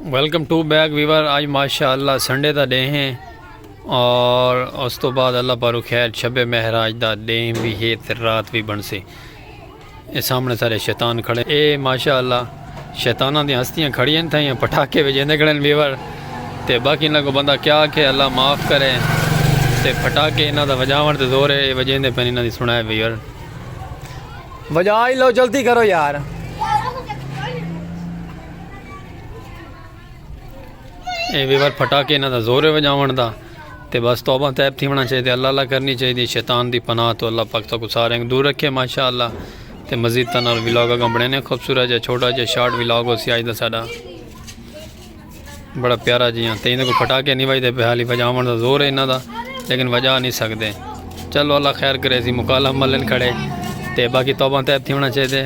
Welcome to back viewer آج ماشاء اللہ سنڈے دا ڈے ہیں اور اس تو بعد اللہ پارو خیر شب مہراج دا ڈے بھی ہے تے رات بھی بن سے اے سامنے سارے شیطان کھڑے اے ماشاء اللہ شیطانہ دی ہستیاں کھڑی ہیں تھائیاں پٹھاکے بھی جیندے کھڑے ہیں ویور تے باقی انہاں کو بندہ کیا کہ اللہ معاف کرے تے پٹھاکے انہاں دا وجاون تے زور ہے اے وجیندے پہنے انہاں دی سنائے ویور وجائی لو جلدی کرو یار اے ویور پھٹاکے انہاں دا زور وجاون دا تے بس توبہ تیب تھی ہونا چاہیے اللہ اللہ کرنی چاہیے شیطان دی پناہ تو اللہ پاک تاکو سارے انگ دور رکھے ماشاءاللہ تے مزید تنال ولاگ اگاں بڑھنے خوبصورت جا چھوٹا جا شارٹ ولاگ ہو سیاج دا ساڑا بڑا پیارا جی ہاں تین کو پھٹاکے نہیں بجتے پہ حالی وجاون دا زور ہے انہاں دا لیکن وجا نہیں سکتے چلو اللہ خیر کرے سی مکالہ ملن کھڑے تے باقی توبہ تیب تھی ہونا چاہیے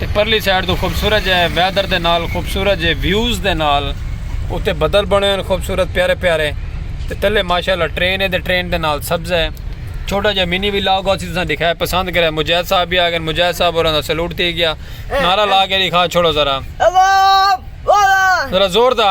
تے پرلی سائیڈ توں خوبصورت جے ویدر دے نال خوبصورت جے ویوز دے نال اتے بدل بنے ہوئے ہیں خوبصورت پیارے پیارے تے تلے ماشاءاللہ ٹرین ہے تے ٹرین دے نال سبز ہے چھوٹا جے منی ولاگ ہو سی تساں دکھائے پسند کرے مجاہد صاحب بھی آگئے مجاہد صاحب اور اندھا سلوٹ تھی گیا نعرہ لا کے دکھا چھوڑو ذرا ذرا زور دا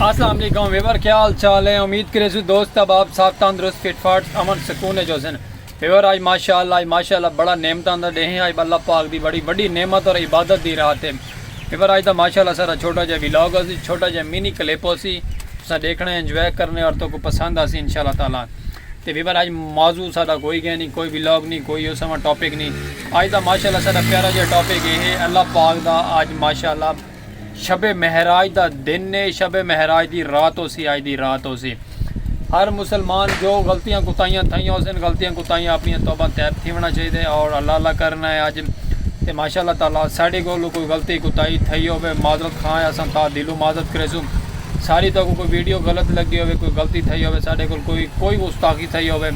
اسلام علیکم ویور کیا حال چال ہے امید کرے سو دوست اب آپ ساتھ تندرست فٹ فاٹ امن سکون ہے جو سن ویور آج ماشاءاللہ آج ماشاءاللہ بڑا نعمت آن دا ڈیہے آج اللہ پاک دی بڑی بڑی نعمت اور عبادت دی رات ہے ویور آج دا ماشاءاللہ سارا چھوٹا جا ویلاگ ہو سی چھوٹا جا مینی کلیپ ہو سی تسا دیکھنے انجوائے کرنے اور تو کو پسند آسی انشاءاللہ تعالی تے ویور آج موضوع سارا کوئی گئے نہیں کوئی ویلاگ نہیں کوئی اس سماں ٹاپک نہیں آج دا ماشاءاللہ سارا پیارا جا ٹاپک ہے اللہ پاک دا آج ماشاءاللہ شب مہراج دا دن ہے شب مہراج دی رات ہو سی آج دی رات ہو سی ہر مسلمان جو غلطیاں کتائیاں تھائیاں ہو سن غلطیاں کتائیاں اپنی توبہ تیب تھی ہونا چاہیے اور اللہ اللہ کرنا ہے آج تے ماشاء اللہ تعالیٰ ساڑھے کو کوئی غلطی کتائی تھئی ہوئے معذرت خواہ ہے سن تا دلو معذرت کرے سو ساری تو کوئی ویڈیو غلط لگی ہوئے کوئی غلطی تھئی ہوئے ساڑھے کو کوئی کوئی استاخی تھئی ہوئے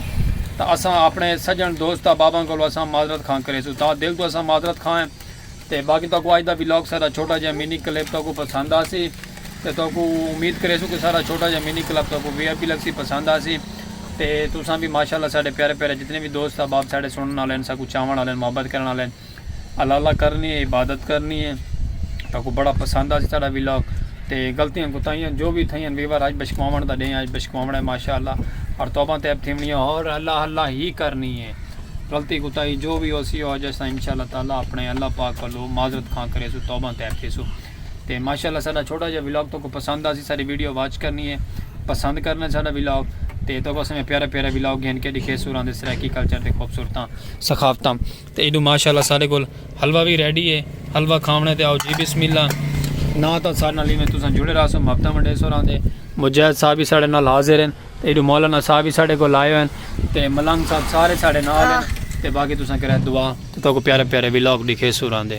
تا اساں اپنے سجن دوست باباں کو اساں معذرت خواہ کرے سو تا دل تو اساں معذرت خواہ ہیں تے باقی تہاکوں اج دا ولاگ سارا چھوٹا جیہا مینی کلپ تہاکوں پسند آسی تے تہاکوں امید کریسوں کہ سارا چھوٹا جیہا مینی کلپ تہاکوں وی آئی پی لگسی پسند آسی تے تساں وی ماشاءاللہ ساڈے پیارے پیارے جتنے وی دوست احباب ساڈے سنڑن آلے ہن ساکوں چاون آلے ہن محبت کرن آلے ہن اللہ اللہ کرنی اے عبادت کرنی اے تہاکوں بڑا پسند آسی ساڈا ولاگ تے غلطیاں کوتاہیاں جو وی تھئیاں ہن وی وار اج بشکواون دا ڈینہہ اے اج بشکواونڑاں اے ماشاءاللہ اور توباں تیب تھیونڑیاں اور اللہ اللہ ہی کرنی اے۔ غلطی کوتاہی جو وی ہوسی او اج اساں انشاءاللہ تعالی اپنڑے اللہ پاک ولوں معذرت خواں کریسوں توبہ طیب تھیسوں تے ماشاءاللہ ساڈا چھوٹا جیہا ولاگ توکوں پسند آسی ساڈی ویڈیو واچ کرنی ہے پسند کرنا ساڈا ولاگ تے توکوں اساں میں پیارا پیارا ولاگ گھن کے دکھیسوں راں دے سرائیکی کلچر تے خوبصورتاں ثقافتاں تے ایڈو ماشاءاللہ ساڈے کول حلوہ وی ریڈی ہے حلوہ کھاونڑے تے آؤ جی بسم اللہ نہ تاں ساڈے نال ایویں تساں جڑے راہسوں محبتاں ونڈیسوں راں دے مجاہد صاحب وی ساڈے نال حاضر ہیں تے ایڈو مولانا صاحب ہی ساڈے کول آئے ہوئن تے ملنگ صاحب سارے ساڈے نال ہن تے باقی تساں کرے دعا تے تہاکوں پیارے پیارے ولاگ ڈکھیسوں راندے۔